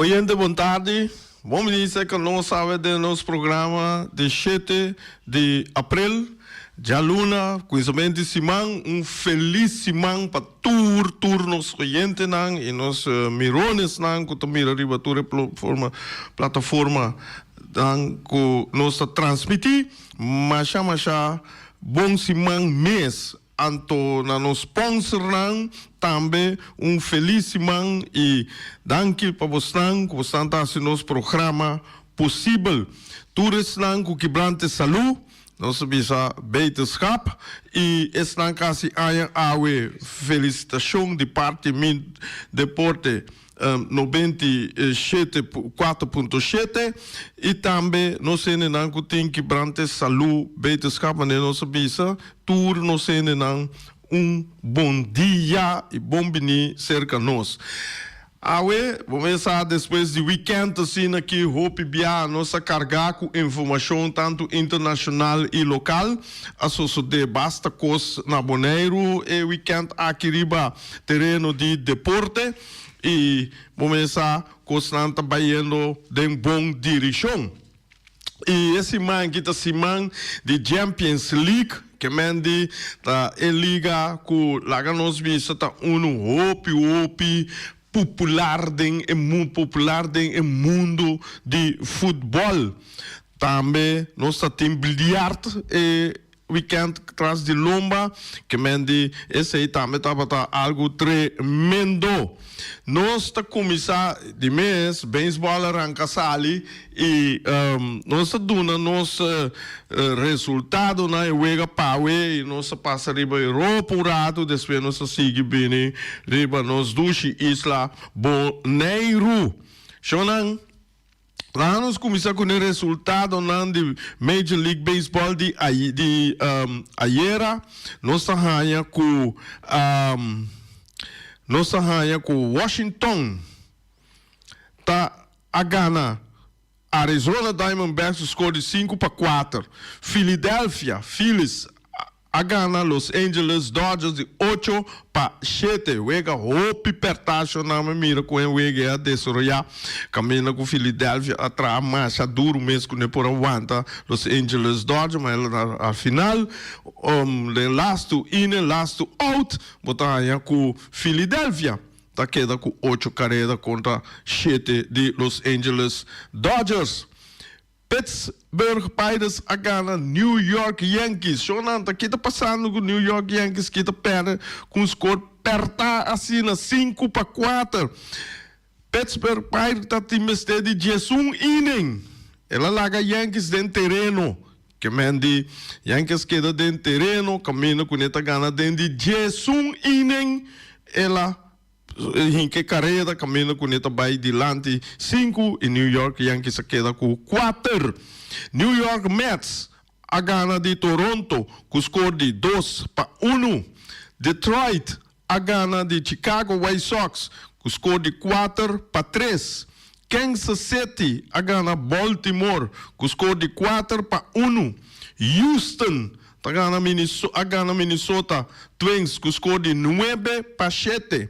Oyente bon tardi, bon minister ka nos awe den nos programa di shete di april, djaluna kuminsament di siman, un felis siman pa tur tur nos oyentenan y nos mironesnan ku ta mira riba tur e plotforma plataforma nan ku nos ta transmiti, masha masha bon siman mes Anto na nos sponsornan tambe un felis siman y danki pa bosnan cu bosnan ta haci nos programa posibel. Tur esnan cu kibrante salu, nos ta bisa beterschap y esnan casi aña awe felicitacion di parti mi deporte. no benti shete pu kuater punto shete i tambe nos hendenan ku tin ki brante salú beterskap manera nos a bisa tur nos hendenan un bon dia i bon biní serka nos. Awe bo mes sa despues di wikènt asina ki hopi biaha nos a kargá ku informashon tantu internashonal i lokal a sosodé basta kos na Boneiru e wikènt aki riba. tereno di deporte y bo mesa cos nan ta bayendo den bon diricion. Y e siman aki ta siman di Jampiens League, kemen di ta e liga cu laga nos bisa ta unu hopi hopi popular den e mun, popular den e mundo di futbol. Tambe nos ta tin biliart, e Weekend tras di lomba, ke men di esei tambe tabata algu tremendo. Nos ta kuminsá di mes, beisbòl a ranka sali i nos ta duna nos resultado na e wega pawe i nos ta pasa riba e ropa un ratu, despues nos ta sigui bini riba nos dushi isla Boneiru. Shonnan. Laga nos kuminsá ku e resultadonan di Major League Baseball di di ayera. Nos ta haña ku nos ta haña ku Washington ta a gana Arizona Diamondbacks ku skor di sinku pa kuater. Philadelphia Phillies a. a gana Los Angeles Dodgers di ocho pa shete wega hopi pertasho nan mi mira ku e wega e a desaroyá kaminda ku Philadelphia a traha masha duru mes ku no e por a wanta Los Angeles Dodgers ma el a a final den lastu inning lastu out bo ta haña ku Philadelphia ta keda ku ocho kareda kontra shete di Los Angeles Dodgers. Pittsburgh Pirates a gana New York Yankees. Show nan ta kita pasando cu New York Yankees kita perde cu un score perta asina sinku pa kuater. Pittsburgh Pirates ta tin mester di diesun inning. El a laga Yankees den tereno. Kemen di Yankees keda den tereno caminda cu ne ta gana den di diesun inning. El a. Hinke kareda kaminda kune ta bai dilanti sinku i New York Yankees a keda ku kuater. New York Mets a gana di Toronto ku skor di dos pa unu. Detroit a gana di Chicago White Sox ku skor di kuater pa tres. Kansas City a gana Baltimore ku skor di kuater pa unu. Houston Ta gana Minneso a gana Minnesota Twins cu score di nuebe pa shete.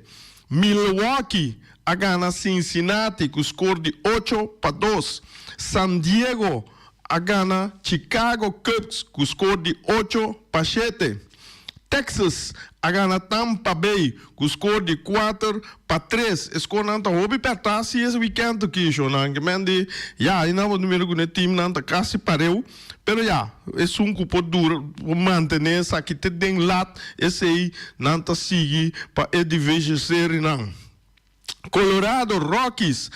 Milwaukee a gana Cincinnati cu score di ocho pa dos. San Diego a gana Chicago Cubs cu score di ocho pa shete. Texas a gana Tampa Bay cu score di kuater pa tres. E scorenan ta hopi perta si es weekend, Kishon. Angemente ya ayi nan por mira cu ne teamnan ta casi pareu. Pero ya, esun cu por dura, por mantene esaki te den lat, esey nan ta sigui pa e Division Serienan. Colorado Rockies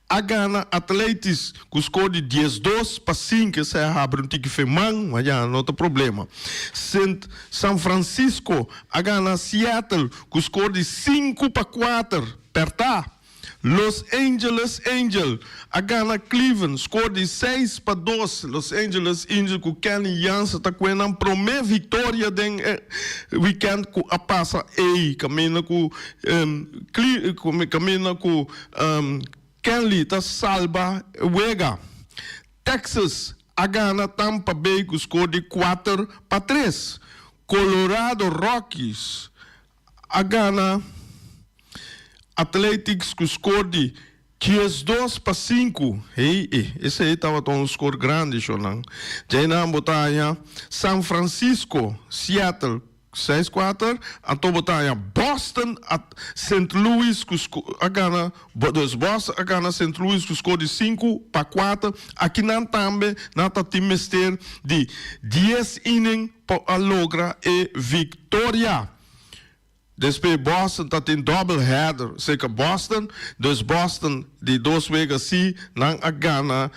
a gana Athletics cu score di dies dos pa sink, esey a habri un tiki feman, ma ya no ta problema. Sint San Francisco a gana Seattle cu score di sinku pa kuater, per ta. Los Angeles Angel a gana Cleveland score di seis pa dos. Los Angeles Angel cu Kenley Jansen ta kue nan prome victoria den e weekend cu a pasa ey. Caminda cu caminda cu Kenley ta salba e wega. Texas a gana Tampa Bay cu score di cuater pa tres. Colorado Rockies. a gana Athletics cu score di diesdos pa sinku. Hey eh, esey tabata un score grandi sho nan. Djey nan bo ta haña San Francisco, Seattle, seis kuater, anto bo ta haña Boston a Saint Louis cu sco, a gana, dus Boston a gana Saint Louis cu score di sinku pa kuater. Aki nan tambe nan ta tin mester di dies inning. por a logra e victoria. Despues Boston ta tin double header cerca Boston, dus Boston di dos wega si nan a gana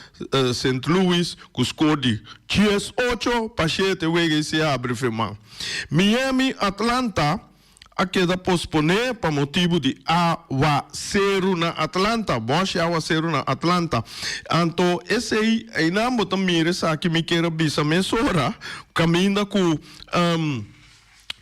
Saint Louis cu score di diesocho pa shete wega y siabri firma. Miami Atlanta a keda posponé pa motibu di awaseru na Atlanta, bosh i awaseru na Atlanta. Anto esei einan bo ta mira esaki mi kier a bisa mesora kaminda ku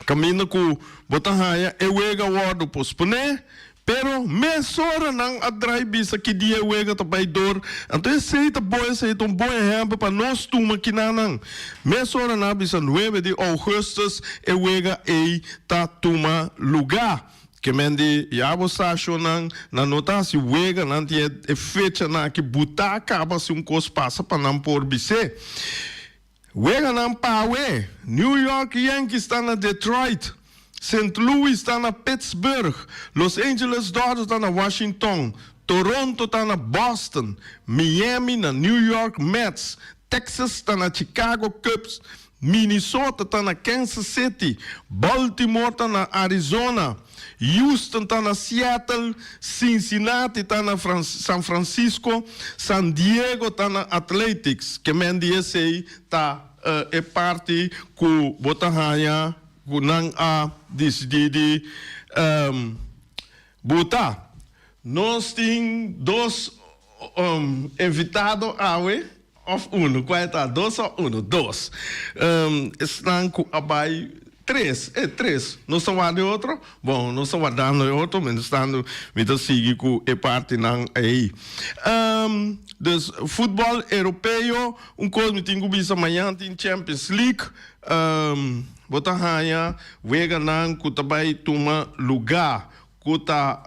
kaminda ku bo ta haña e wega a wòrdu posponé, Pero mesora nan a drai bisa ki dia e wega ta bai dor, anto esei ta bo esei ta un bon ehempel pa nos tuma kinanan. Mesora na bisa nuebe di ougustus e wega ei ta tuma luga. Kemen di yabo sashonnan na nota si wega nan tin e fecha na ki buta kaba si un kos pasa pa nan por bis'e. Weganan P'awe, New York Yankees ta na Detroit, Saint Louis ta na Pittsburgh, Los Angeles Dodgers ta na Washington, Toronto ta na Boston, Miami na New York Mets, Texas ta na Chicago Cubs, Minnesota ta na Kansas City, Baltimore ta na Arizona, Houston ta na Seattle, Cincinnati ta na San Francisco, San Diego ta na Athletics, ke men di esei ta e parti ku bo ta haña ku nan a disidí di buta. Nos tin dos invitado awe. Of unu ku a eta dos o unu dos. Esnan ku a bai tres, e tres. Nos ta warda e otro? Bon, nos ta wardando e otro, mientestando mi ta sigui ku e partinan ei. Dus, futbòl Europeo, un kos mi tin ku bisa, mañan tin Champions League. Bo ta haña weganan ku ta bai tuma lugá. cu ta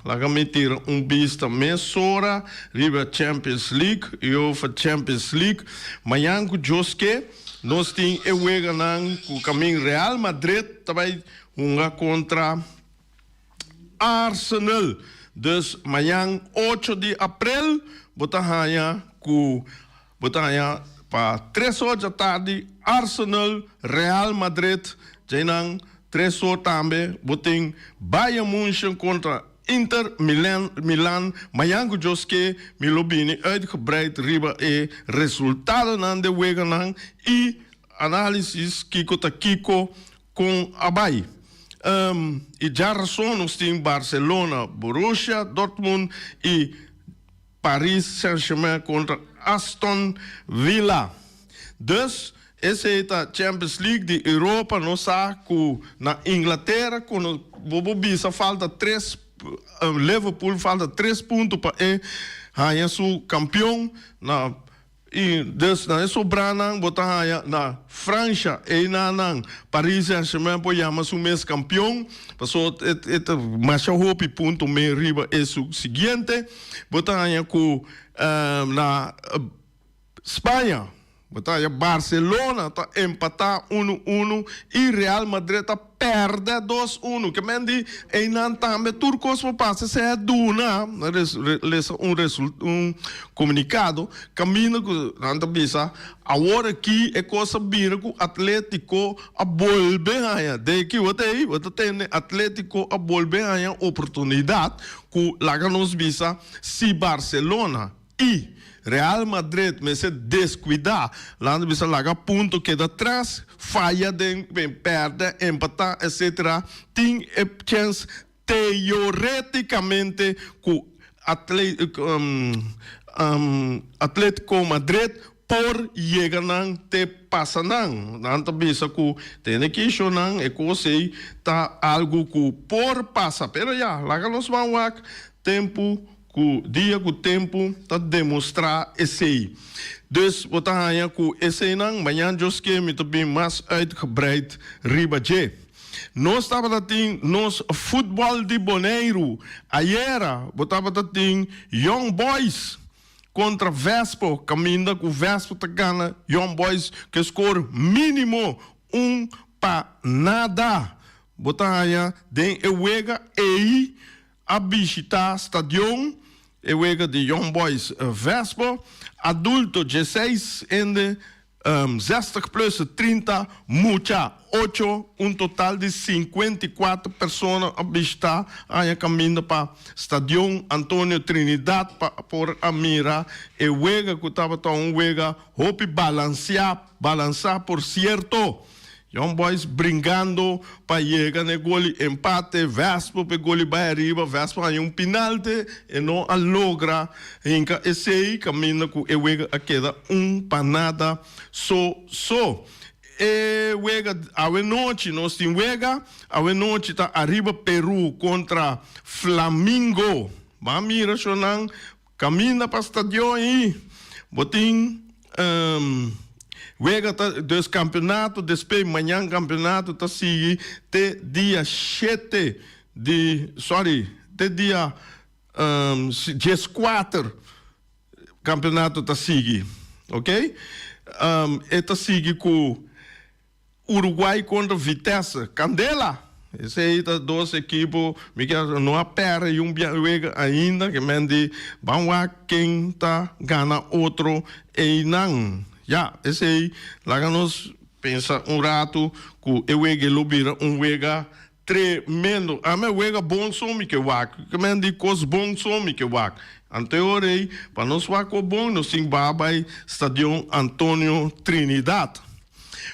laga mi tira un bista mesora riba Champions League, Uefa Champions League. Mañan cu Dios ke, nos tin e weganan cu camin Real Madrid ta bay hunga contra Arsenal. Dus mañan ocho di aprel bo ta haña cu. Bo ta haña pa tres or dja tardi Arsenal, Real Madrid, djainan tres or tambe bo tin Bayern Munchen kontra Inter Milan. Mañan ku djos ke mi lo bini uitgebreid riba e resultadonan den weganan i análisis kiko ta kiko kon a bai. I dja rason nos tin Barcelona, Borussia Dortmund i. Paris Saint-Germain kontra Aston Villa. Dus, esei ta Champions League di Europa. Nos sa ku na Inglatera kono bobo bisa falta tres, Liverpool falta tres punto pa e haña su kampion na. I dus na e sobranan bo ta haya na Fransha, eina nan Paris Saint-Germain por yama su mes kampion, paso e ta masha hopi punto me riba e su siguiente. Bo ta haya ku na Spaña bo ta haya Barcelona ta empatá unu unu i Real Madrid ta. Perde dos unu. Ke men di einan tambe tur kos por pasa se a duna lesa un result un komunikado kaminda ku nan ta bisa awor aki e kos a bira ku Atlético a bolbe haña de kiwatei bo ta tende Atlético a bolbe haña oportunidat ku laga nos bisa si Barcelona I. Real Madrid mester deskuidá, laga bisa laga punto keda tras, faya den men pèrdè, empatá etc. Tin e chèns teoretikamente ku Atlético Madrid por yega nan te pasa nan. Nan ta bisa cu tene kisho nan, e cos ey ta algo cu por pasa. Pero ya, laga nos man wak tempo cu dia cu tempo ta demostra esey. Dus bo ta haya cu eseynan mañan Dios kie mi ta bin mas uitgebreid riba dje. Nos tabata tin nos Futbol di Boneiru. Ayera bo tabata tin Young Boys. kontra Vespo kaminda ku Vespo ta gana Young Boys ku e skor minimo un pa nada. Bo ta haña den e wega ei a bishitá stadion, e wega di Young Boys Vespo, adulto dje seis hende. Zestig plus e trinta mucha, ocho, un total di sinkuenta i kuater persona a bishitá aña kaminda pa Stadion Antonio Trinidad pa por a mira e wega ku tabata un wega hopi balansiá, balansá por sierto. Young Boys bringando pa yega n'e gol di empate, Wesp p'e gol di bai ariba, Wesp haña un pinalte, e no a logra hinca esey, caminda cu e wega a keda un pa nada so so. E wega awe nochi, nos tin wega awe nochi ta ariba Peru contra Flamingo, b'a mira shonan. Caminda pa stadion y bo tin wega ta dus campeonato despe mañan campeonato ta sigui te dia shete di sorry te dia diescuater campeonato ta sigui ok e ta sigui cu. Uruguay kontra Vitesse Candela. Esei ta dos ekipo mi kier sa no a pèrdè un biahuega ainda ke men di ban wak ken ta gana otro einan. Ya, esei laga nos pensa un ratu ku e wega ei lo bira un wega. Tremendo! Ami a wega bon so mi ke wak. Ke men di kos bon so mi ke wak. Ante ora ei, pa nos wak kos bon, nos tin baha bai Stadion Antonio Trinidad.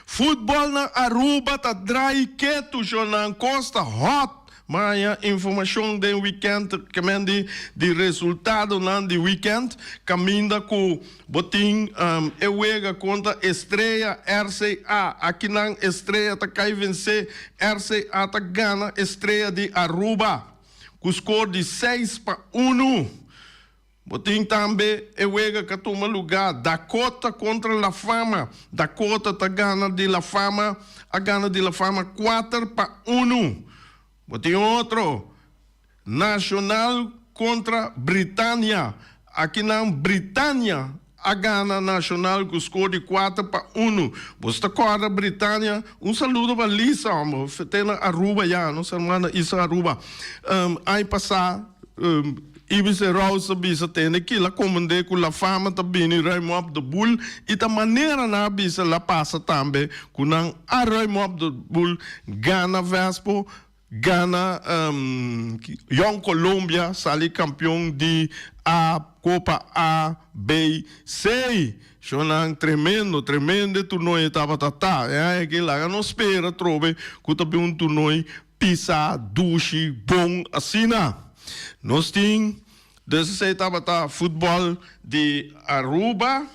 Futbolnan Aruba ta drai ketu jornan kos ta hot. Maya informashon den wikènt, ke men di di resultadonan di wikènt kaminda ku. Bo tin e wega contra Estrella RCA. Aki nan Estrella ta cay vence, RCA ta gana Estrella di Aruba cu score di seis pa unu. Bo tin tambe e wega ca tuma lugar Dakota contra La Fama. Dakota ta gana di La Fama, a gana di La Fama cuater pa unu. Bo tin otro. Nacional contra Britania, akinan Britania a gana Nacional cu score di cuater pa uno. Bos ta corda Britania? Un saludo pa Lisa homber, fete na Aruba ya, nos hermana Isa Aruba. Aña pasa Ibis e Rouse a bisa tende kila comende cu La Fama ta bini ruim op de boel y ta manera nan a bisa la pasa tambe cu nan a ruim op de boel gana Vespo. Gana Young Colombia sali kampion di A, Kopa A, B, C. Shonnan tremendo, tremende turnooi e tabata ta. Aki laga nos spera trobe ku ta bin un turnooi pisá, dushi, bon asina. Nos tin, dese tabata futbòl di Aruba.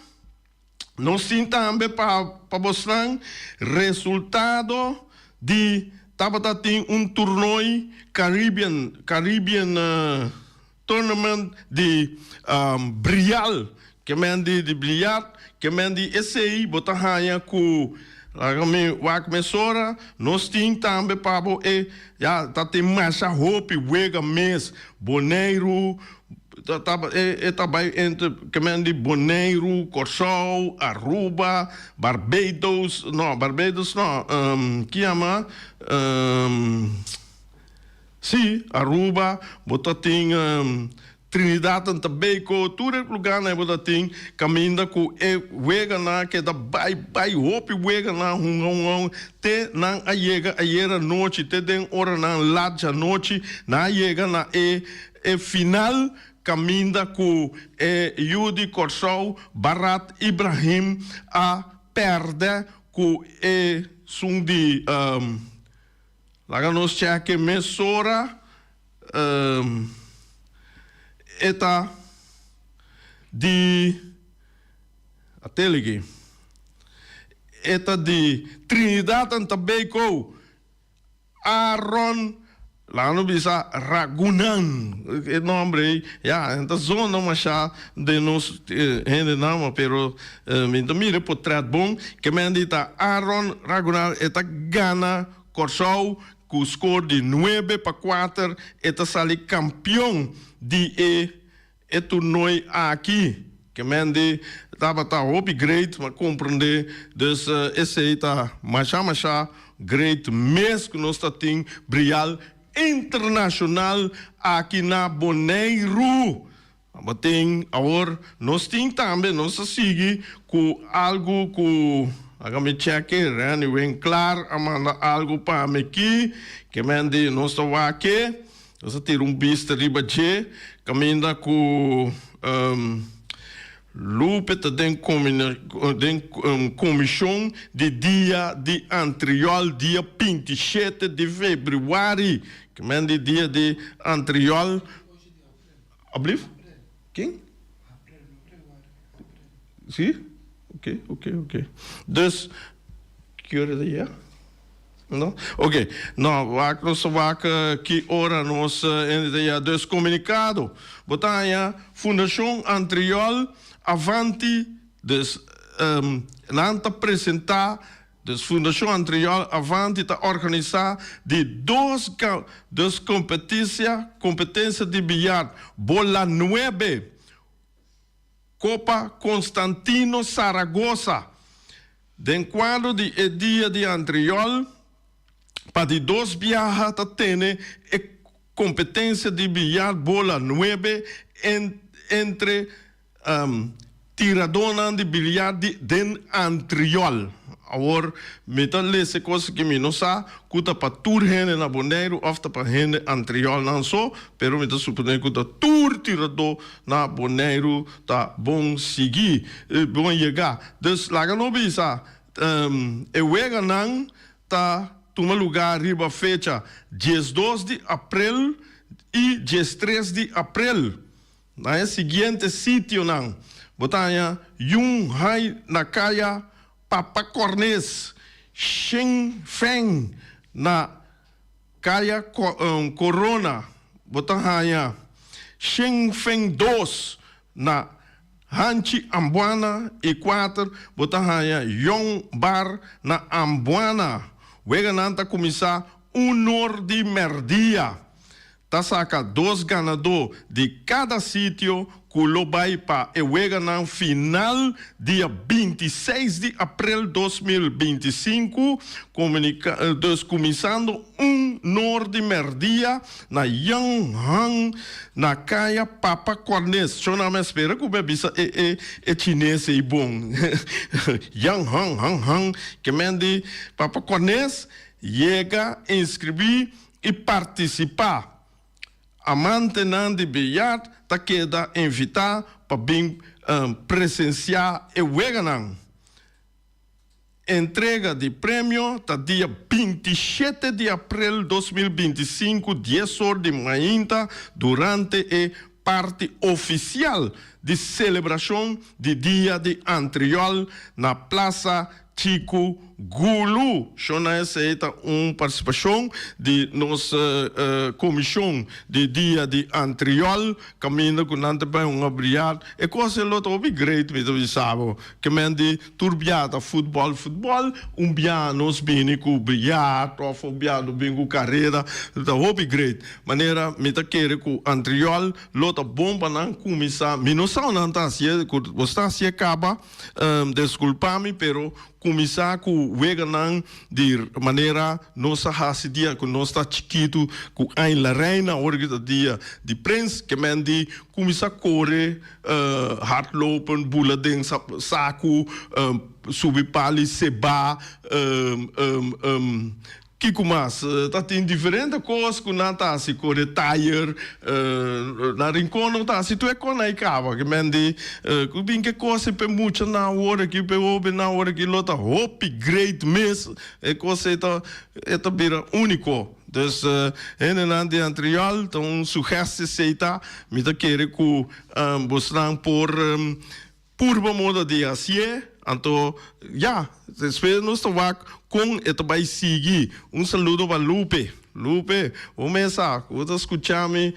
Nos tin tambe pa pa bosnan resultado di tabata tin un turnooi Caribbean Caribbean tournament di brial ke men di di bliart ke men di esei bo ta haña ku laga mi wak mesora nos tin tambe pa bo e ya ta tin masha hopi wega mes Boneiru. E ta bai entre kemen di Boneiru, Kòrsou, Aruba, Barbados, no, Barbados no, ki yama, si, Aruba, bo ta tin Trinidad and Tobago, tur e luganan ei bo ta tin, kaminda ku e weganan keda bai bai, hopi weganan hunga hunga hunga, te nan a yega ayera anochi, te den oranan lat djanochi, nan a yega na e E final caminda cu e yu di Corsou, Barat Ibrahim, a perde cu e sun di Laga nos cheque mesora e ta di Atelege e ta di Trinidad and Tobago. Aaron, laga nos bisa ragunan, e nomber ey ya hen ta zonda masha den nos hendenan, pero mi ta mira e potret bon, kemen di ta Aaron ragunan, e ta gana Kòrsou ku skor di nuebe pa kuater, e ta sali kampion di e. E toernooi aki kemendi tabata hopi great ma komprendé dus esei ta masha masha great mes ku nos ta tin brial internashonal aki na Boneiru tabatin awor nos tin tambe nos ta sigui ku algu ku laga mi chèk'e Renny Winklar a manda algu pami ki kemendi nos ta wak ke Nos a tira un bista riba dje caminda cu Lupe ta den comicion di dia di antriol dia binti i shete di febriuari, kimen di dia di antriol. Alblief? Ken? Si? Ok, ok, ok. Dus, ki ora ta yega? No? Ok, no, wak nos ta wak ki ora nos hende ta yega. Dus, komunikado. Bo ta haña Fundashon Antriòl Avanti. Dus, nan ta presentá. Des fundashon antrrior avanti ta organisá di dos dos kompetisia, kompetensia di biljart, bola nuebe, Copa Constantino Zaragoza. Den kuadro di e dia di antrrior, pa di dos biaha ta tene e kompetensia di biljart bola nuebe entre Tiradónan di biliar di den antriòl. Awor, mi ta lese kos ki mi no sa ku ta pa tur hende na Boneiru òf ta pa hende antriòlnan so, pero mi ta suponé ku ta tur tiradó na Boneiru ta bon sigui, bon yega. Dus laga no bisa e weganan ta tuma lugá riba fecha diesdos di aprel i diestres di aprel. Na e siguiente sitionan bo ta haña Jun Hai na Kaya Papa Cornes, Shin Feng na Kaya Corona, bo ta haña Shin Feng dos na Hanchi Ambuana i kuater bo ta haña Yon Bar na Ambuana. Weganan ta kuminsá uno di mèrdia. Ta saca dos ganador di cada sitio cu lo bay pa e weganan final dia binti i seis di aprel dos mil binti i sinku, comunica, dus cuminsando un nor di merdia na Young Hung na Caya Papa Cornes. Cho nan me spera cu me bisa e e e chines ey bon. Young Hung Hung Hung, ke men di Papa Cornes, yega inscribi y participa. Amantenan di Beyard ta keda invita pa bin presencia e weganan. Entrega di premio ta dia binti shete di april dos mil binti sinku dies or di mainta durante e. Parti ofisial di selebrashon di dia di antriòl na Plasa Chiku Gulu. Shona esei ta un partisipashon di nos komishon di dia di antriòl kaminda ku nan ta bai un obriad. E kos e lo ta hopi great, mi ta bisa bo. Ke men di. Tur bia ta futbòl, futbòl. Un bia nos bini ku brilyart òf un bia nos bini ku karera. Lo ta hopi great. Manera mi ta kere ku antriòl lo ta bon pa nan kuminsá. Mi no sa onan ta hasié. Ku nos ta hasié kaba, deskulpá mi, pero kuminsá ku weganan di manera nos a hasi dia ku nos ta chikitu, ku Ain La Reina, awor ki ta dia di Prins. Ke menti, kuminsá kore hardlopen, bula den saku, subi pali, seba, kiko mas? Ta tin diferente kos ku nan ta hasi, kore taier, na Rincon lo ta hasi tur e kos na e kaba, ke men di ku bin ke kosnan p'e mucha nan awor aki, p'e hobe nan awor aki lo ta hopi great mes, e kos ei ta bira uniko. Dus hendenan di antriol ta un sugesti si ei ta, mi ta kere ku bosnan por purba moda di hasié, anto ya, despues nos ta wak kon e ta bai sigui. Un saludo pa Lupe. Lupe, bo mes sa ku bo ta skucha mi,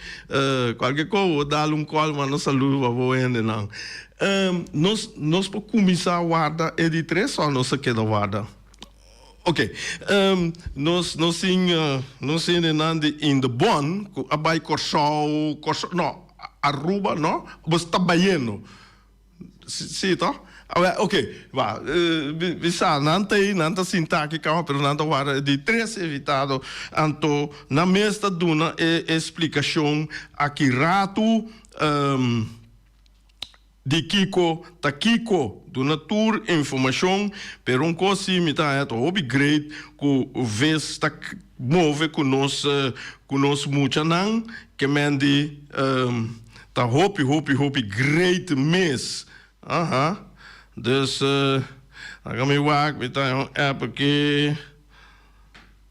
kualke kos bo dal un kòl manda saludo pa bo hendenan. Nos nos por kuminsá warda e di tres òf nos ta keda warda? Ok. Nos no sin no sin e nan di in de bon cu a bay Corsou Corsou no Aruba no bo sta bayendo si to awe ok wa mi sa nan ta ey nan ta sinta aki caba pero nan ta worde di tres evitado anto nan mes ta duna e explicacion aki ratu. Di kiko ta kiko, duna tur informashon, pero un kos si mi ta haña ta hopi great ku ves ta move ku nos ku nos muchanan, kemen di ta hopi hopi hopi great mes. Aha. Dus, a mi wak mi ta haña un app aki.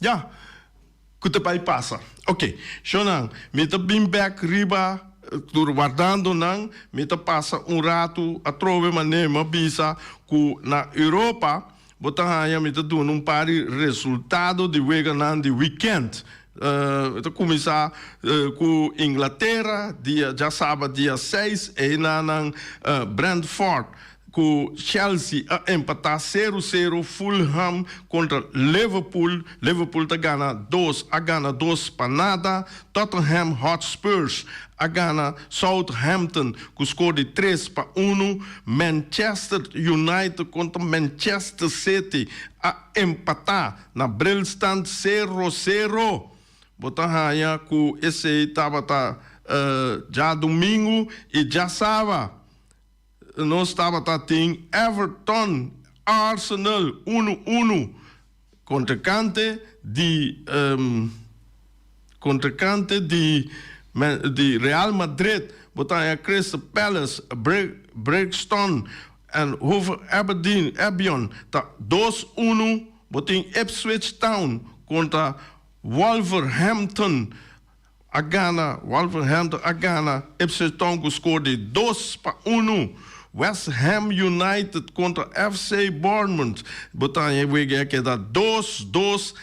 Ya, ku ta bai pasa. Oke, shonnan, mi ta bin bèk riba, tur wardando nan, mi ta pasa un ratu atrobe manera mi a bisa ku na Europa bo ta haña mi ta duna un par di resultado di weganan di wikènt. Mi ta kuminsá ku Inglatera, dia djasabat dia seis, einan Brentford Cu Chelsea a empata seru seru, Fulham contra Liverpool, Liverpool ta gana dos a gana dos pa nada, Tottenham Hotspurs a gana Southampton cu score di tres pa uno, Manchester United contra Manchester City a empata na brilstand seru seru. Bo ta haya cu esey tabata djadomingo y djasaba. Nos tabata tin Everton, Arsenal unu unu. Kontrekante di Kontrekante di di Real Madrid, bo ta haña Crystal Palace, Brixton en Hove Albion ta dos unu. Bo tin Ipswich Town kontra Wolverhampton. a gana, Wolverhampton a gana, Ipswich Town cu score di dos pa unu, West Ham United contra FC Bournemouth, bo ta haña e wega e a keda dos, dos,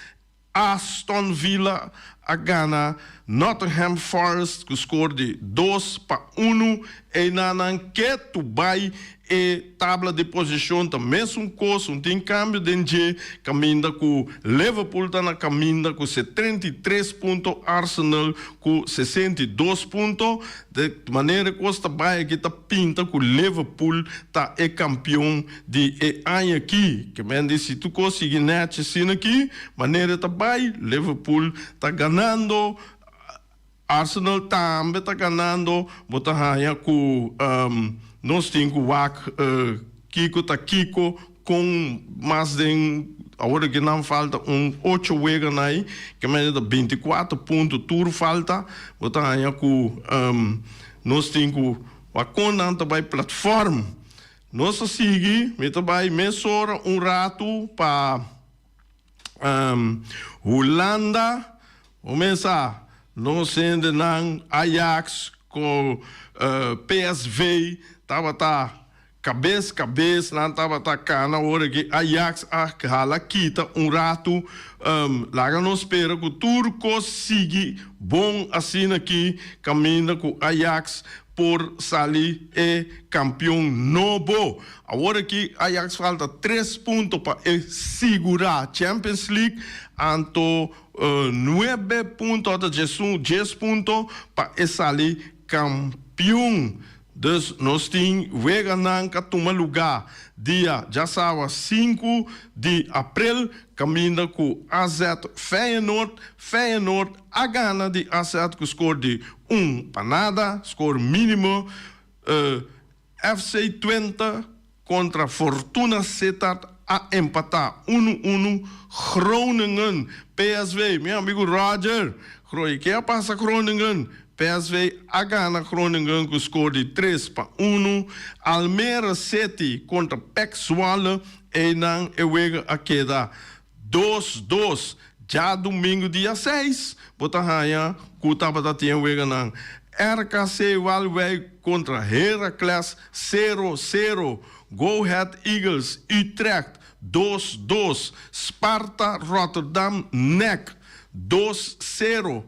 Aston Villa a gana, Nottingham Forest cu score di dos pa unu, eynan nan ke tu bay E tabla di posishon ta mesun kos, un tin kambio den dje kaminda ku Liverpool ta na kaminda ku setrenta i tres punto, Arsenal ku sesenta i dos punto. De manera e kos ta bai aki ta pinta ku Liverpool ta e kampion di e aña aki. Ke men di si tur kos sigui nèchi asina aki, manera e ta bai, Liverpool ta ganando Arsenal tambe ta ganando, bo ta haña cu nos tin cu wak kico ta kico, con mas den, awor ke nan falta un ocho wega na ey, ke mester ta binti y kuater punto tur falta, bo ta haña cu nos tin cu wak con nan ta bay platform. Nos ta sigui, mi ta bay mesora un ratu pa. Hulanda, un mes a, nos hende nan Ajax ku PSV tabata kabes kabes, nan tabata kana ora ke Ajax a hala kita un ratu. Laga nos spera ku tur kos sigui bon asina aki kaminda ku Ajax. por sali e kampion nobo. Awor aki Ajax falta tres punto pa e sigurá Champions League, anto nuebe punto ata djesun, djes punto, pa e sali kampion. Dus nos tin weganan ka tuma lugá dia djasawa sinku di aprel kaminda ku AZ Feyenoord. Feyenoord a gana di AZ ku skor di Un panada, score minimo, eh, FC Twente contra Fortuna Sittard a empata unu unu, Groningen, PSV, mi amigo Roger, Groy, ke a pasa Groningen? PSV a gana Groningen cu score di tres pa unu, Almere City contra Pek Zwolle, eynan e wega a keda Dos dos, dja dumingu dia seis, bo ta haña ku tabata tin weganan. RKC Waalwijk kontra Heracles, sero sero, Go Ahead Eagles Utrecht, dos dos, Sparta Rotterdam, Nek, dos sero,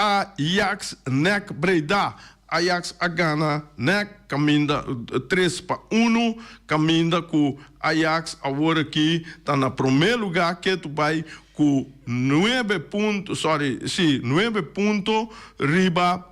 Ajax nèk Breda Ajax a gana nèk kaminda tres pa unu kaminda ku Ajax awor aki ta na promé lugá ketu bai ku nuebe punto sorry si nuebe punto riba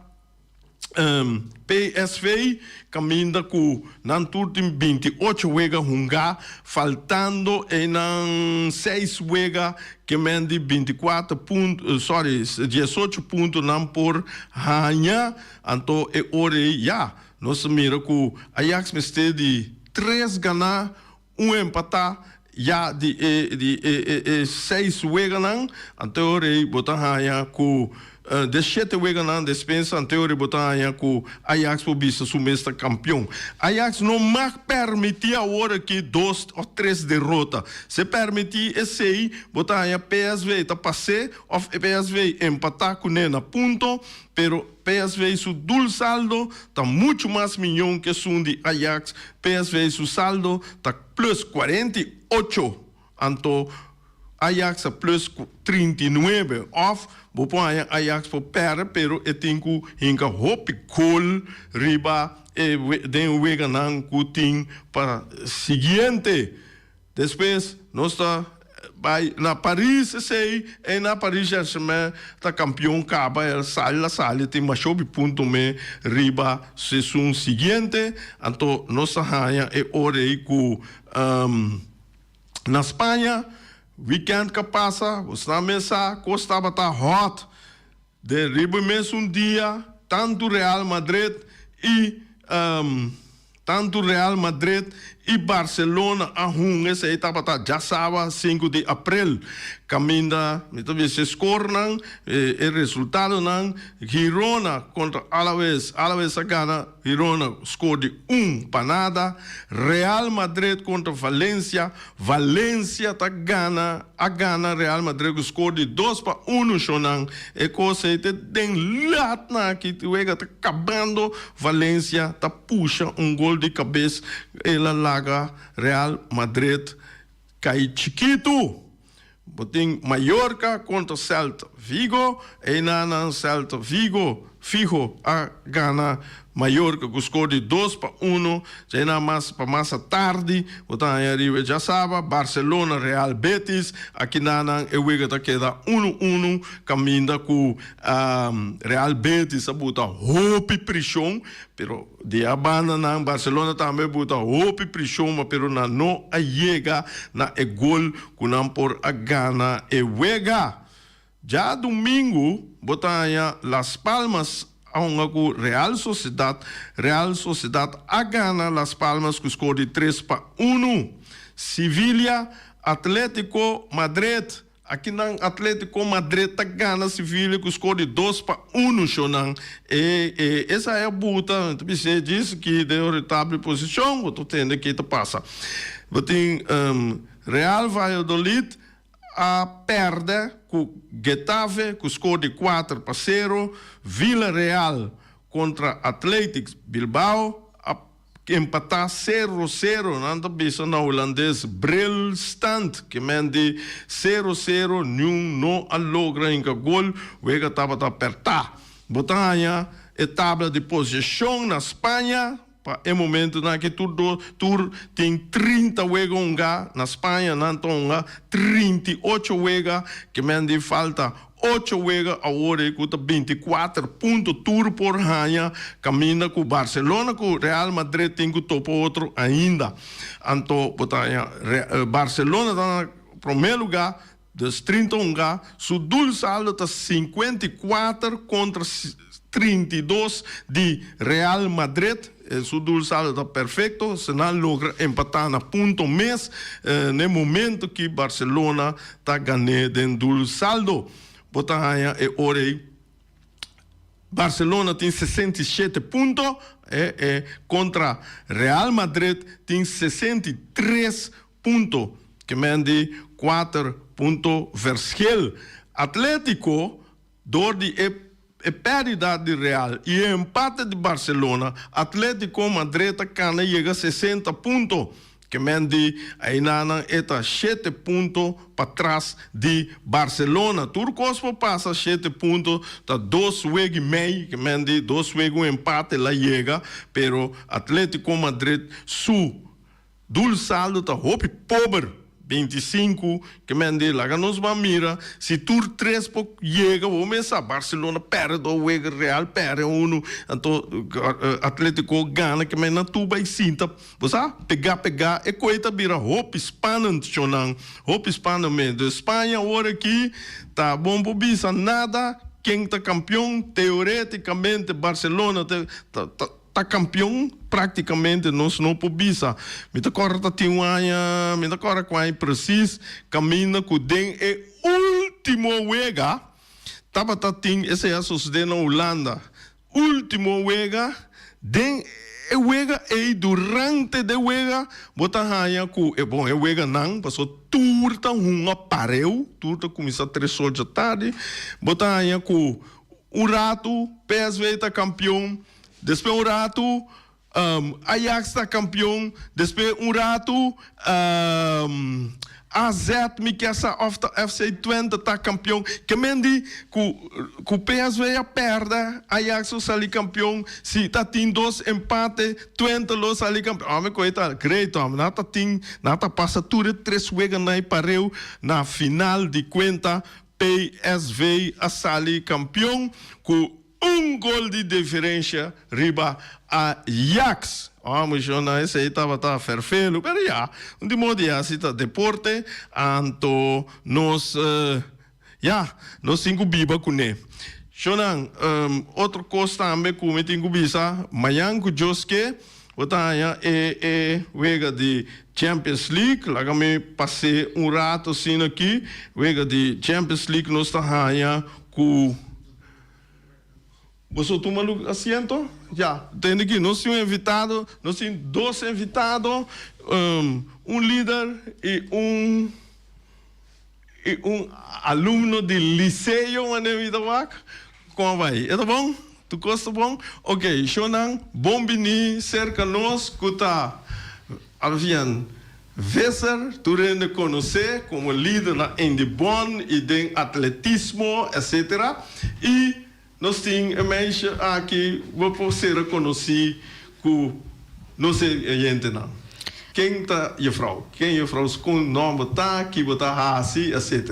PSV caminda cu nan tur tin binti ocho wega hunga, faltando enan seis wega kemen di binti cuater punto, sorry, diesocho punto nan por haña, anto e ora ey ya nos a mira cu Ajax mester di tres gana, Un empatá ya di e di e e e seis weganan, anteorei bo ta haña ku di e shete weganan despues, anteorei bo ta haña ku Ajax por bisa su mes ta kampion. Ajax no mag permití aworakí dos òf tres derota. Si e permití esei, bo ta haña psv ta pas'é òf psv empatá kuné na punto, pero, Psv su doelsaldo ta muchu mas miñó ku esun di Ajax, psv su saldo ta plus kuarenta i ocho, anto Ajax a plus trinta i nuebe. Òf bo por haña Ajax por pèrdè pero e tin ku hinka hopi gol riba den e weganan ku tin pa siguiente Despues nos ta bai na Paris esey en na Paris Saint-Germain ta campeon caba el sali la sali tin mashopi punto me riba sesun siguiente anto nos ta haya e ora ey cu na Spaña weekend ca pasa bo sa me sa cos tabata hot. Den riba mesun dia, tantu Real Madrid i tantu Real Madrid i Barcelona a hunga esei tabata dja saba sinku di aprel, kaminda mi ta bisa e skornan, e resultadonan, Girona kontra Alaves, Alaves a gana. Girona score di un pa nada. Real Madrid kontra Valencia, Valencia ta gana, a gana Real Madrid ku score di dos pa unu shonnan. E kos ei ta den lat na aki, wega ta kabando, Valencia ta pusha un gol di kabes, el a laga Real Madrid kai chikitu. Bo tin Mallorca contra Celta Vigo, eyna nan Celta Vigo fiho a gana Mallorca cu score di dos pa uno, djayna mas pa masa tardi bo ta haya riba e djasaba Barcelona Real Betis, akina nan e wega ta keda uno uno caminda cu Real Betis ta buta hopi prision Pero di a banda nan Barcelona tambe buta hopi prishon ma pero nan no a yega na e gol ku nan por a gana e wega. Dja dumingu bo ta haña Las Palmas a hunga ku Real Sociedad, Real Sociedad a gana Las Palmas ku skor di tres pa unu. Sivilia, Atletico Madrid. Akinan Atletico Madrid ta gana Sevilla ku skor di dos pa unu shownan. E esa e bu ta bis'é djis ki den ori tabli posishon bo ta tende ke ta pasa. Bo tin Real Valladolid a pèrdè ku Getafe ku skor di kuater pa sero. Villareal kontra Athletic Bilbao a. Ke empatá sero sero. Nan ta bisa na hulandes brilstand ke men di sero sero niun no a logra inga gol. Wega tabata apertá. Bo ta haña e tabla di poseshon na Spaña. Pa e momentu nan aki tur dos tur tin trinta wega hongá. Na Spaña nan ta honga trinta i ocho wega ke men di falta Ocho wega awor cu ta binti cuater punto tur por haña caminda cu Barcelona cu Real Madrid tin cu topa otro ainda. Anto bo ta haña Barcelona ta na prome luga, dus trinta un ga, su dul saldo ta cincuenta y cuater contra trinta y dos di Real Madrid. Su dulsado ta perfecto, se nan logra empata na punto mes n'e momento ki Barcelona ta gané den dulsaldo. Bo ta haña e ora ei Barcelona tin sesenta i shete punto kontra Real Madrid tin sesenta i tres punto, kemen di kuater punto vershel. Atlético Dor di e e perdida di Real y e empate di Barcelona, Atletico Madrid ta cana yega sesenta punto, ke men di ayina nan e ta shete punto pa tras di Barcelona. Tur cos por pasa, shete punto ta dos wega y mey, ke men di dos wega un empate la yega, pero Atletico Madrid su. Dul saldo ta hopi pober. Bintisinku kemende laga nos ban mira si tur tres por yega bo mesa. Barcelona perde dos wega, Real perde uno anto Atletico gana kemende nan tur bai sinta bo sa pega pega e koe ta bira hopi spannend chonan hopi spannend mes den Spaña awor aki ta bon por bisa nada ken ta kampion teoreticamente Barcelona ta Ta kampion praktikamente nos no por bisa. Mi ta kòrda ta tin un aña, mi ta kòrda ku aña presis, kaminda ku den e último wega tabata tin, esei a sosodé na Hulanda, último wega, den e wega ei, durante de wega bo ta haña ku, bon e weganan pasobra tur ta hunga pareu, tur ta kuminsá tres ocho tardi, bo ta haña ku un ratu psv ta kampion. Despe un ratu, Ajax ta kampion. Despe un ratu, AZ, mi ke sa òf ta FC Twente ta kampion. Ke men di ku ku PSV a pèrdè, Ajax lo sali kampion. Si ta tin dos empate, Twente lo sali kampion. Hòmber ku ei ta great hòmber. Nan ta tin, nan ta pasa tur e tres weganan pareu na final di kuenta. PSV a sali kampion ku. Un gol di diferensha riba Ajax. Homi shona esei tabata ferfelu, pero ya, un tin moda di hasi, ta deporte, anto nos, ya, nos tin ku biba kuné. Shonan, otro kos tambe ku mi tin ku bisa, mañan ku djos ke, bo ta haña e e wega di Champions League. Laga mi pas'é un rato asina aki, wega di Champions League nos ta haña ku. Boso tuma lu asiento ya. Tende aki nos tin un invitado, nos tin dos invitado, un lider y un y un alumno di Liceo Manuelito Wak. Como a bay? E ta bon? Tu cos ta bon? Ok, shownan bon bini cerca nos cu ta, abian, Visser, tur hende conoce como lider na Indy Bon y den atletismo etc. Y nos tin e meisje aki bo por sera conoci cu nos e gentenan. Ken ta Jefrouw? Ken Jefrouw Schoon nomber ta? Ki bo ta haci? Etc.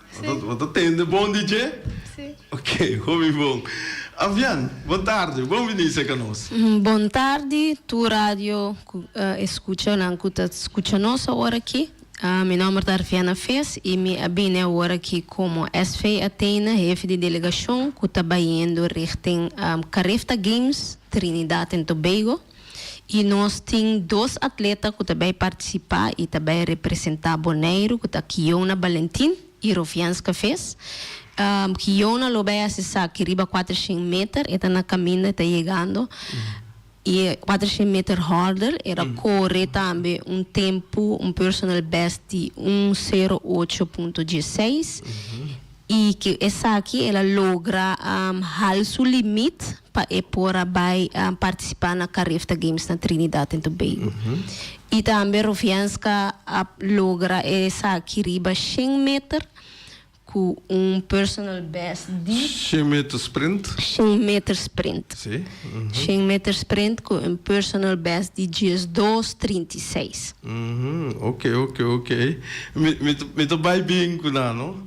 Bo ta tende bon di dje? Sí. Ok, hopi bon. Avian, bon tardi, bon bini seka nos. Bon tardi tur radio escuchanan cu ta scucha nos awor aki. Mi nomber ta Arviana Fees y mi a bini awor aki como SV Athena, hefi di delegacion cu ta bayendo richting Carifta Games Trinidad en Tobago. Y nos tin dos atleta cu ta bay participa y ta bay representa Boneiru cu ta Kiona Balentin y Rovianska Ves. Kiona lo bay haci esaki riba cuater shen meter, e ta na caminda e ta yegando. Y cuater shen meter hurdle e ta core tambe un tempo, un personal best di un sero ocho punto dieseis. I cu esaki el a logra hal su limit pa e por a bay participa na Carefta Games na Trinidad en Tobago. I tambe Rovianska a logra esaki riba shen meter cu un personal best di. Shen meter sprint? Shen meter sprint. Si. Shen meter sprint cu un personal best di diesdos trinta i seis. Oke, oke, oke. Mi ta bay bien cu nan, no?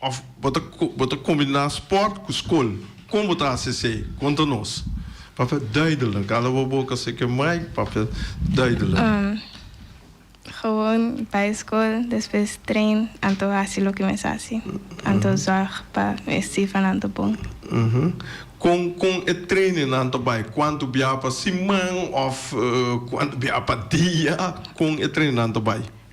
Of bo ta bo ta combina sport cu scol? Con bo ta haci esey? Conta nos. Papia duidelen. Cala bo boca si e ke mai, papia duidelen. Um, Gewoon bai scol, despues train, anto haci loke mes haci. Anto zorg pa e cifernan ta bon. Uh-huh. Con con e training nan ta bai? Cuanto bia pa siman of cuanto bia pa dia? Con e training nan ta bai?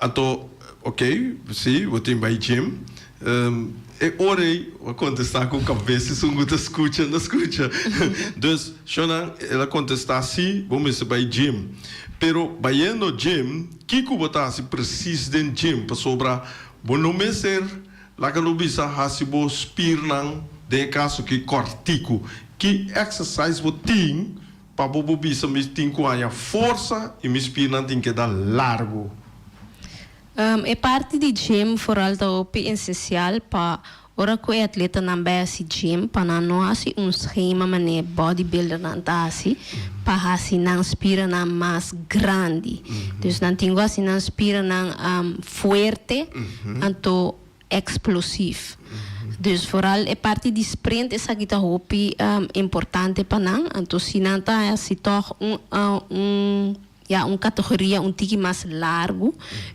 Ato, Ok, si, bo tin bai gym. E ora ei a contesta cu cabes y sungu ta scucha, na scucha. Dus, Shonan, el a contesta, Si, bo mester bai gym. Pero bayendo gym, kico bo ta haci precies den gym? Pasobra bo no mester, laga lo bisa, haci bo spiernan, den e caso aki, cortico. Ki exercise bo tin? Pa bo bo bisa mi tin ku haña forsa i mi spirnan tin keda largu. E parti di gym foral ta hopi esensial pa ora ku e atletanan bai hasi gym pa nan no hasi un schema manera e bodybuildernan ta hasi pa hasi nan spiranan mas grandi. Dus nan tin ku hasi nan spiranan fuerte anto. explosief. Dus vooral e parti di sprint esaki ta hopi importante pa nan. Anto si nan ta haci toch un un ya un categoria un tiki mas largo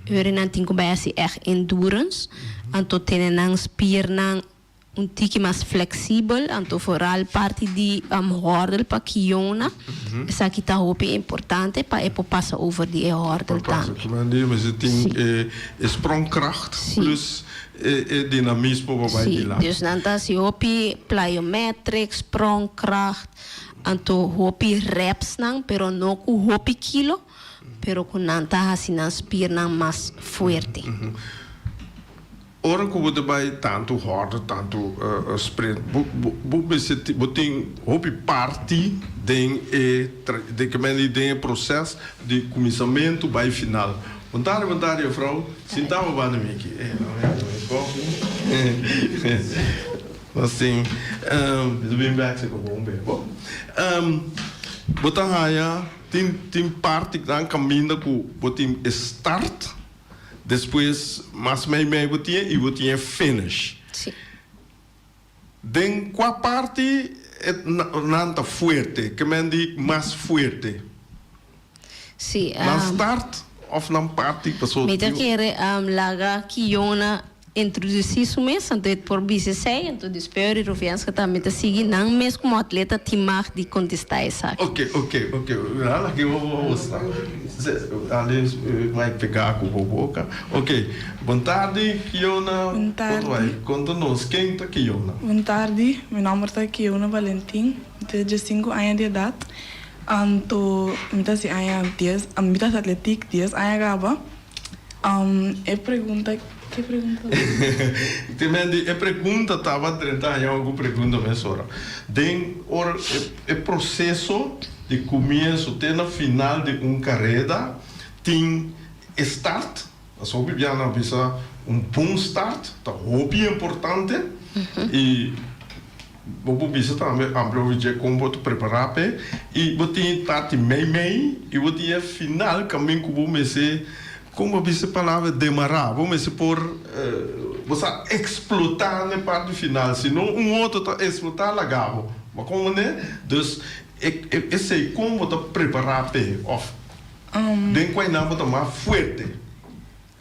ora nan tin cu bay haci echt endurance anto tene nan spiernan un tiki mas flexibel anto vooral parti di hurdle pa kiona esaki ta hopi importante pa e por pasa over di e hurdle tambe. Por pasa tambe anto yo mester tin e E sprongkracht plus e dinamismo pa bai di lak. Dus nan ta hasi hopi plyometric, sprongkracht, anto hopi repsnan pero no ku hopi kilo pero ku nan ta hasi nan spirnan mas fuerte. Ora ku bo ta bai tantu hòrda, tantu sprint, bo bo mester tin bo tin hopi parti den e den kende den e proces di kuminsamentu bai final. Bontade, bontade, jofrou. Sinta bo banda mi aki. E lo hende lo e koffie. Nos tin Mester bin bek si bo bo un bebo. Bo ta haya, tin tin partenan caminda cu bo tin e start, despues mas mei mei bo tin e y bo tin e finish. Si. Den kua parti e nan ta fuerte, ke men di mas fuerte? Sí, am. Nan start of nan parti paso. Mi ta kere am laga Kiona introdusí su mes, anto e por bisa esei, anto despues ori Rufianska tambe ta sigui, nan mes komo atleta tin mag di kontestá esaki. Ok, ok, ok, a la ke bo bo bo sta. Alin mai pegá ku bo boka. Ok. Bon tardi, Kiona. Bon tardi. Bo ta bai konta nos ken ta Kiona? Bon tardi. Mi nòmber ta Kiona Valentin. Mi ta diesinku aña di edat. Anto mi ta hasi aña dies, mi ta hasi atletik dies aña kaba. E pregunta, ke pregunta tabata? Te mende e pregunta tabata drenta aña oku pregunta mesora. Den ora e proseso di kumienso te na final di un kareda tin. E start, pasobra bibiana a bisa un bon start ta hopi importante y bo por bisa tambe amplia over dje con bo ta prepara p'e y bo tin e parti meimei y bo tin e final camin cu bo mester, como bo a bisa e palabra demara, bo mester por bo sa explota n'e parti final si no un otro ta explota laga bo, bo a como manera? Dus esey con bo ta prepara p'e of. Den kua e nan bo ta mas fuerte?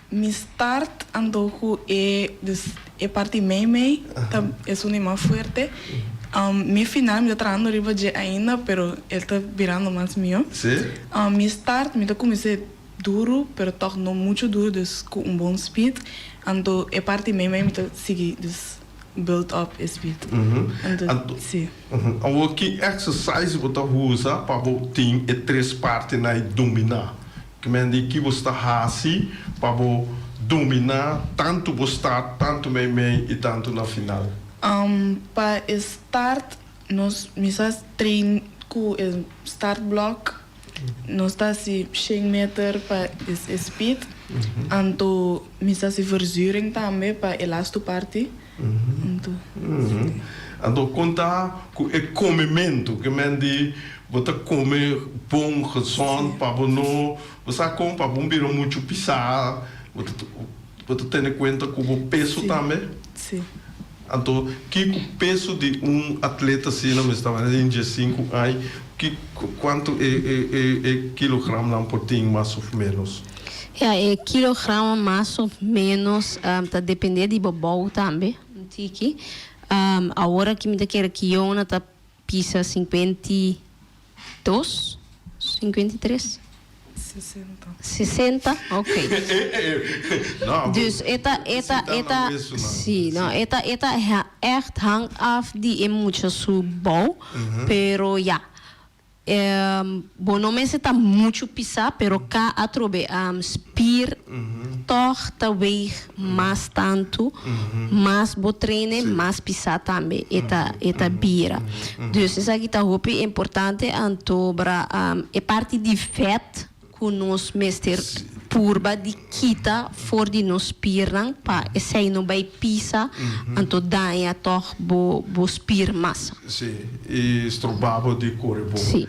Mi start anto ku e, dus e parti meimei ta esun di mas fuerte. Mi final mi ta trahando riba dje ainda pero el ta birando mas mihó. Mi start mi ta kumins'é duru pero tòg no muchu duru, dus ku un bon speed. Anto e parti meimei mi ta sigui, dus. build up e spiritu. Anto, si. Awor ki exercise bo ta usa pa bo tin e tres partenan ei dominá? Kmen di ki bo sta hasi pa bo dominá tantu bo start, tantu meimei i tantu na final? Pa e start nos mester train ku e start block. Nos ta hasi shen meter pa es e speed. Anto mi sa hasi verzuring tambe pa e lastu parti. Anto kon ta ku e komementu ke men di bo ta kome bon, gezond pa bo no bo sa kon pa bo no bira muchu pisá. Bo ta tene kuenta ku bo peso tambe? Anto kiko peso di un atleta asina mester manera den dies sinku ai? Kuantu e e kilogramnan por tin mas òf ménos? Ya, e kilogramnan mas òf ménos ta dependé di bo bou tambe un tiki. Awor aki mi ta kere ku Yona ta Pisa sinkuenta i dos, sinkuenta i tres? Sesenta. Sesenta, ok. Dus e ta, e ta, e ta, si, no, e ta, e ta ècht hang af di e mucha su bou, pero ya. Bo no mester ta muchu pisá, pero ka atrobe am spir tòg ta weeg mas tantu, mas bo trene, mas pisá tambe e ta e ta bira. Dus esaki ta hopi importante antobra am e parti di fèt ku nos mester purba di kita for di nos spirnan pa esei no bai pisa anto daña tòg bo bo spir masa. Sí, i stroba bo di kore bo. Sí.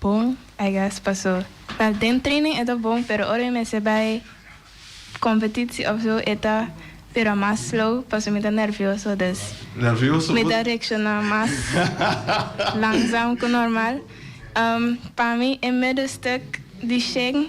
Bon, I guess, paso well den training e ta bon pero ora mi mester bai competitie of zo e ta bira mas slow paso mi ta nervioso dus Nervioso mi por? ta reacciona mas langzam cu normal. Um pa mi e middle stuk di Sheng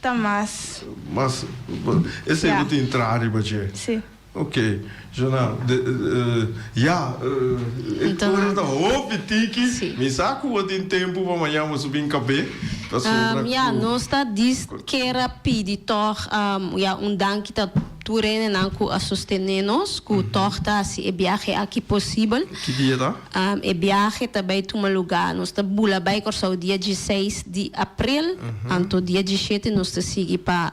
Ta mas. Mas. E seibo tin traha riba dje. Si. Ok. Jona, ya, e ora ta hopi tiki. Si. Mi sa ku bo tin tempu pa maña bo su bin kab'é. Ta sobra ku. Ya, nos ta dis kera pidi tòg, ya, un danki ta. Tur renenan cu a sostene nos cu tog ta haci e biahe aki posibel. Ki dia ta? E biahe ta bay tuma luga, nos ta bula bay Corsou dia dieseis di april, anto dia dieshete nos ta sigui pa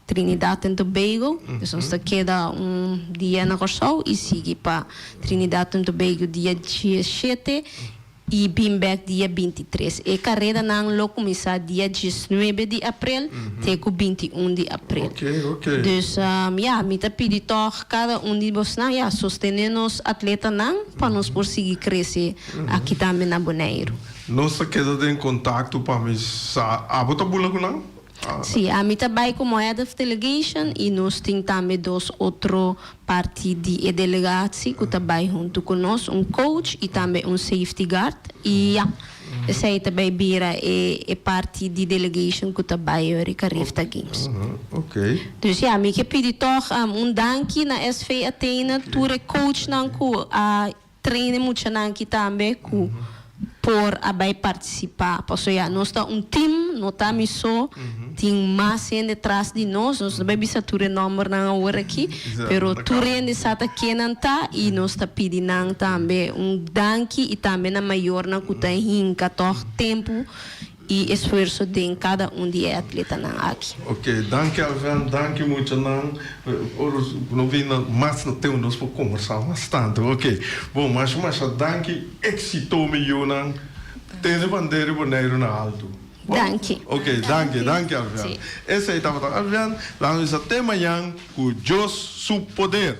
Trinidad en Tobago, dus nos ta keda un dia na Corsou y sigui pa Trinidad en Tobago dia dieshete. i bin bek dia binti tres. E karedanan lo kuminsá dia diesnuebe di aprel te ku binti un di aprel. Dus, ya, mi ta pidi tòg kada un di bosnan, ya, sostené nos atletanan pa nos por sigui krese aki tambe na Boneiru. Nos ta keda den kontakto pa mi sa. Abo ta bula ku nan? Sí, ami ta bai como head of delegation y nos tin tambe dos otro parti di e delegatie cu ta bai hunto cu nos, un coach y tambe un safety guard y ya, esey ta bay bira e e parti di delegation cu ta bai ori ca Rifta Games. Dus ya, mi ke pidi tog un danki na SV Athena tur e coachnan cu a Train e muchanan aki tambe cu por a bay participa. Pasobra ya nos ta un team, no ta mi so, tin mas hende tras di nos. Nos no bay bisa tur e nombernan awor aki, pero tur hende sa ta ke nan ta y nos ta pidi nan tambe un danki y tambe na mayornan cu ta hinca tog tempo. y esfuerso den cada un di e atletanan aki. Ok, danki Alvin, danki mucha nan. Ora cu no bin na mas na tempo nos por conversa mas tanto. Ok, bon, masha masha danki. Exito mi yu nan. Tin e bandera di Boneiru na alto. Danki. Ok, danki, danki Alvin. Esey tabata Alvin, laga mi sa te mañan cu Dios su poder.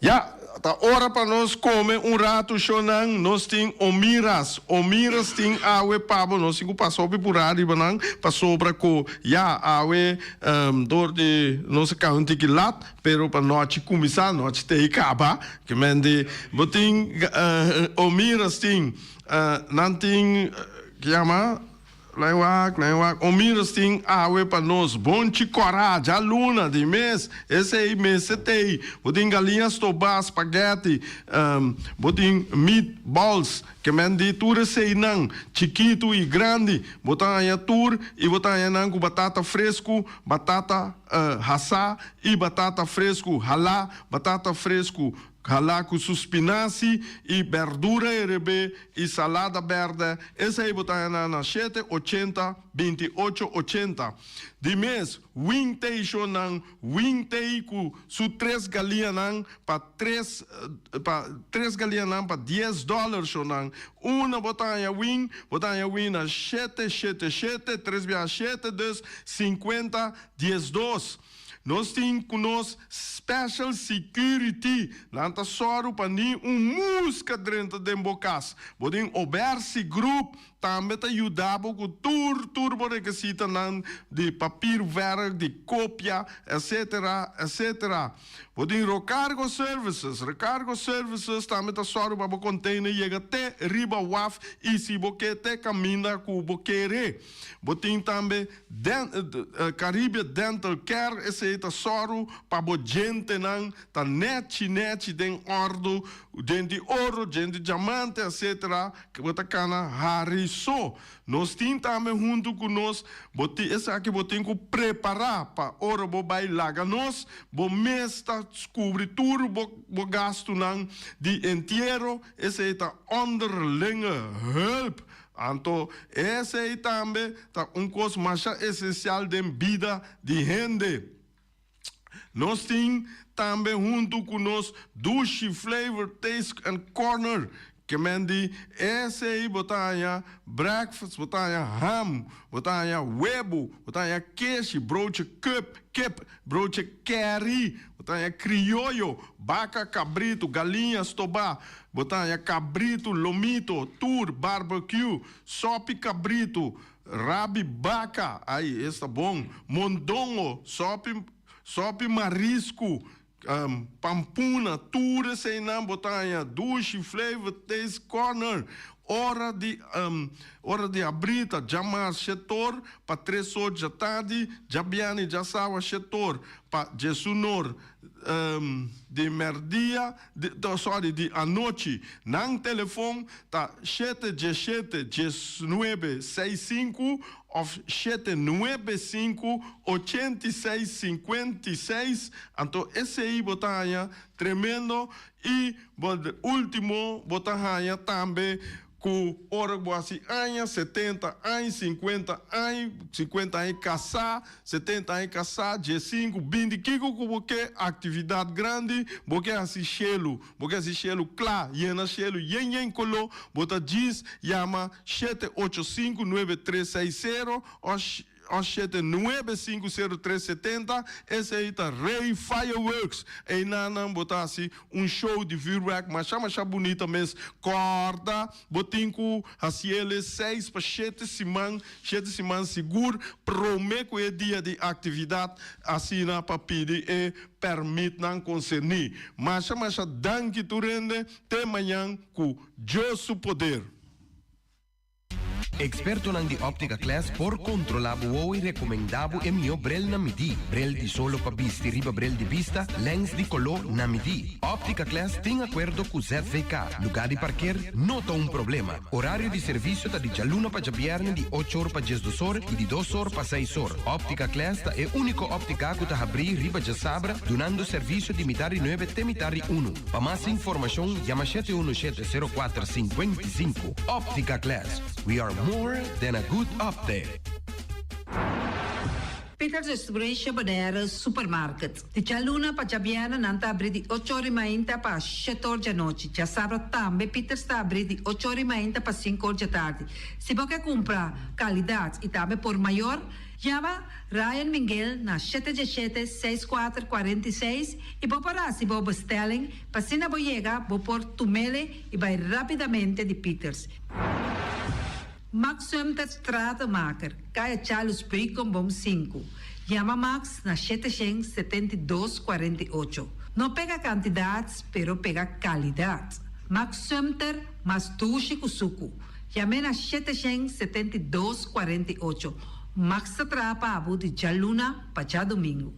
Ya, ta ora pa nos come un rato shonan, nos tin omiras, omiras tin awe pabo, nos tin cu pasa hopi pura riba nan, pasobra cu ya awe ehm door di nos a cabe un tiki lat, pero pa nochi cuminsa, nochi te y caba, que mende bo tin ehm omiras tin, ehm nan tin, kiama, Nan wak, nan wak. Omiras tin awe pa nos. Bon chi cora, ja luna di mes. Esey mester tey. Bo tin galiña stoba, spaghetti, ehm, bo tin meat balls, ke men di tur esey nan, chikitu y grandi. Bo ta haña tur y bo ta haña nan cu batata frescu, batata, eh, hasa y batata frescu, hala, batata frescu, Hala cu su spinaci y berdura erebé y salada berde, esei bo ta hena na shete ochenta, binti ocho ochenta. Di mes, Wing Tei Sho Nan, Wing Tei cu su tres galianan pa tres, pa tres galianan pa dies dollar sho nan. Una bo ta haya wing, bo ta haya wing na shete, shete, shete, tres biaha shete, dus, cincuenta, diesdos. Nos tin cu nos special security nan ta soro pa ni un musca drenta den bo cas. Bo tin obersi groep tambe ta yuda bo cu tur tur bo rekesita nan di papierwerk, di copia, etc. Etc. Bo tin rocargo services. Recargo services tambe ta soro pa bo container yega te riba waf y si bo ke te caminda cu bo kere. Bo tin tambe Caribbean Dental Care, esei ta sòru pa bo djentenan ta nèchi nèchi den òrdu, djente di oro, djente di djamante, etsetera, ke bo ta kana hari so. Nos tin tambe huntu ku nos bo tin esaki bo tin ku prepará pa ora bo bai laga nos, bo mes ta kubri tur bo bo gastunan di entiero, esei ta onderlinge hulp Anto esei tambe ta un kos masha esensial den bida di hende. Nos tin tambe huntu ku nos Dushi Flavor Taste and Corner, ke men di esei bo ta haña breakfast, bo ta haña ham, bo ta haña webo, bo ta haña keshi, broodje, kip, kip. Broche keri, bo ta haña krioyo, baka, kabritu, galiña, stobá, bo ta haña kabritu, lomito, tur, barbecue, sòpi kabritu, rabi baka, ai es ta bon, mondongo, sòpi, sòpi marisku, pampuna, tur eseinan bo ta haña, dushi, flavor, taste, corner. Ora di ora di abrí ta dja mas shetor, pa tres so dja tardi, dja biani, dja sawa shetor, pa djesunor di merdia, sorry, di anochi, nan telefon ta shete dje shete djes nuebe seis sinku of shete nuebe sinku ochenta i seis sinkuenta i seis, anto esei bo ta haña tremendo. I bo ultimo bo ta haña tambe ku ora ku bo hasi aña, setenta añ, sinkuenta añ, sinkuenta añ i kasá, setenta añ i kasá, dies sinku, binti kiko ku bo ke aktividat grandi bo ke hasi shelu, bo ke hasi shelu kla, yena shelu yen yen koló, bo ta djis yama shete ocho sinku, nuebe tres seis sero òf. Os shete nuebe sinku seru tres setenta esei ta Rey Fireworks eina nan bo ta hasi un show di vuurwerk masha masha bunita mes kòrda bo tin ku hasi ele seis pa shete siman shete siman sigur prome ku e dia di aktividat asina pa pidi e pèrmitnan konserní masha masha danki tur hende te mañan ku Dios su poder. Ekspertonan di Optica Class por kontrolá bo oe i rekomendá bo e mihó brel na midí, brel di solo pa bisti riba brel di bista, lèns di koló na midí. Optica Class tin akuerdo ku ZVK. Lugá di parker no ta un problema. Orario di servisio ta di djaluna pa djabièrnè di ocho or pa diesdos or i di dos or pa seis or. Optica Class ta e úniko optiká ku ta habrí riba djasabra dunando servisio di mitá ri nuebe te mitá ri unu. Pa mas informashon yama shete unu shete sero kuater singwenta i sinku. Optica Glass, we are more than a good opte. Peter destrui Shebodere Supermarket. Di djaluna pa djabièrnè nan ta abrí di ocho ora i mainta pa shèt or djanochi. Djasabra tambe Peters ta abrí di ocho ora i mainta pa sinku or djatardi. Si bo ke kumpra kalidat i tambe por mayor, yama Ryan Mingel na shete diashete seis kuater kuarenta i seis i bo por hasi bo bestelling p'asina bo yega bo por tumele I bai rapidamente di Pieters. Max Suemterts Stratenmaker, Kaya Charles Brikenboom sinku. Yama Max na shete shen setenta i dos kuarenta i ocho. No pega kantidat, pero pega kalidat. Max Suemter mas dushi ku suku. Yam'é na shete shen setenta i dos kuarenta i ocho. Max ta traha pa abu di djalunan pa djadumingu.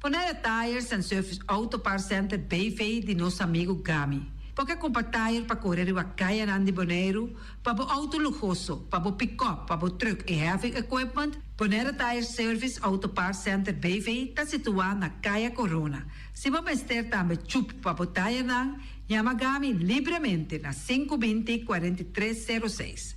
Ponaya Tires and Service Auto Parts Center BV di nos amigo Gami. Bo ke compra tire pa core riba cayanan di Boneiru, pa bo auto luhoso, pa bo pick-up, pa bo truck y heavy equipment? Bonera Tires Service Auto Parts Center BV ta situa na Caya Corona. Si bo mester tambe chup pa bo tirenan, yama Gami libremente na sinku binti kuarenta i tres seru seis.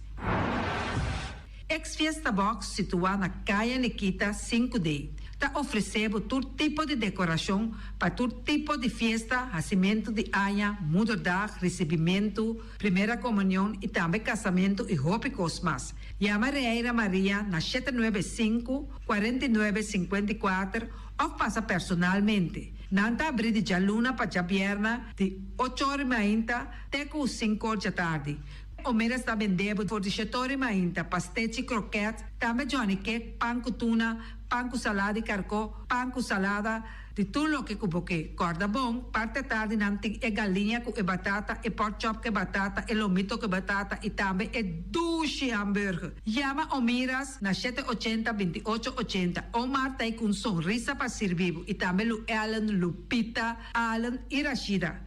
Ex Fiesta Box situá na Kaya Nikita sinku de, ta ofresé bo tur tipo di dekorashon pa tur tipo di fiesta, hasimentu di aña, Moederdag, risibimentu, Primera Komunion i tambe kasamentu i hopi kos mas. Yama Reira Maria na shete nuebe e sinku, kuarenta i nuebe sinkuenta i kuater òf pasa personalmente. Nan ta abrí di djaluna pa djabièrna di ocho or i mainta te ku sinku or djatardi. Omeres ta bendé bo for di Shetori Mainta, pastechi, krokèt, tambe Johnny Kek, pan ku tuna, pan ku salada di karkó, pan ku salada di tur loke ku bo ke. Kòrda bon, parti atardi nan tin e galiña ku e batata, e pork chop ku e batata, e lomito ku e batata i tambe e dushi hamburger. Yama Omiras na shete ochenta, binti ocho ochenta. Omar ta ei ku un sonrisa pa sirbi bo i tambe Luellen, Lupita, Allen i Rashida.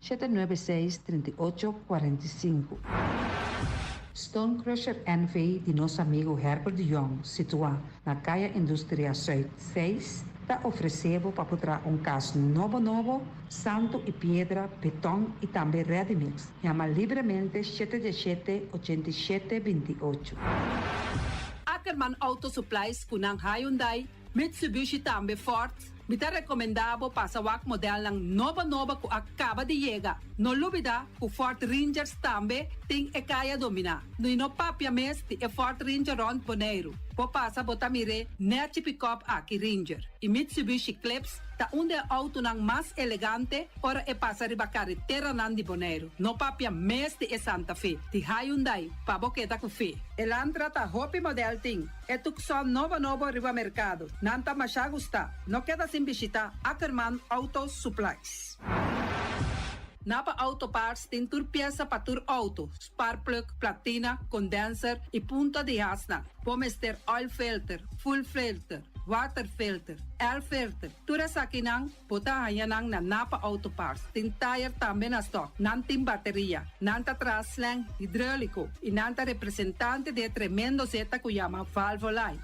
Shete nuebe seis trinta i ocho kuarenta i sinku. Stone Crusher NV di nos amigo Herbert de Jong, situá na Kaya Industria Zuid seis, ta ofresé bo pa bo traha un kas nobo nobo, santu i piedra, betòn i tambe ready-mix. Yama libremente shete diashete ochenta i shete binti ocho. Ackerman Auto Supplies, cu nan Hyundai, Mitsubishi tambe Ford, mi ta rekomendá bo pasa wak modelnan nobo nobo ku a kaba di yega. No lubidá ku Ford Rangers tambe tin e kaya dominá. No i no papia mes di e Ford Ranger rònt Boneiru. Bo pasa bo ta mir'é nèchi pikòp aki Ranger. E Mitsubishi Clips ta un di e outonan mas elegante ora e pasa riba kareteranan di Boneiru. No papia mes di e Santa Fe di Hyundai pa bo keda ku fe. Elantra ta hopi modèl tin. E tucson nobo nobo riba mercado, nan ta masha gusta, no keda sin bishita Ackerman Auto Supplies. Na pa auto parts tin tur piesa pa tur auto, spark plug, platina, condenser y punta di hasnan. Bo mester oil filter, full filter, water filter, air filter, tur esakinan, Bo ta haña nan na Napa Auto Parts. Tin tire tambe na stock. Nan tin bateria. Nan ta traha slang hidrolico. Y nan ta representante di e tremendo zeta cu yama Valvoline.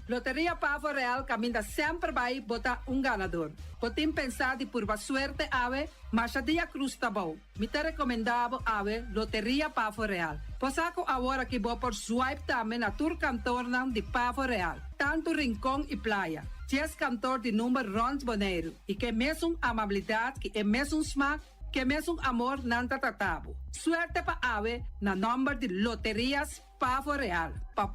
Loteria Pavo Real caminda semper bay bo ta un ganador. Bo tin pensa di purba suerte awe? Masha Dia Cruz ta bao. Mi ta recomenda bo awe Loteria Pavo Real. Cosa cu awor aki bo por swipe tambe na tur kantoornan di Pavo Real, tanto Rincon y Playa, dies kantoor di number rond Boneiru, y k'e mesun amabilidad y e mesun smaak, k'e mesun amor nan ta trata bo. Suerte pa awe na number di Loterias Pavo Real.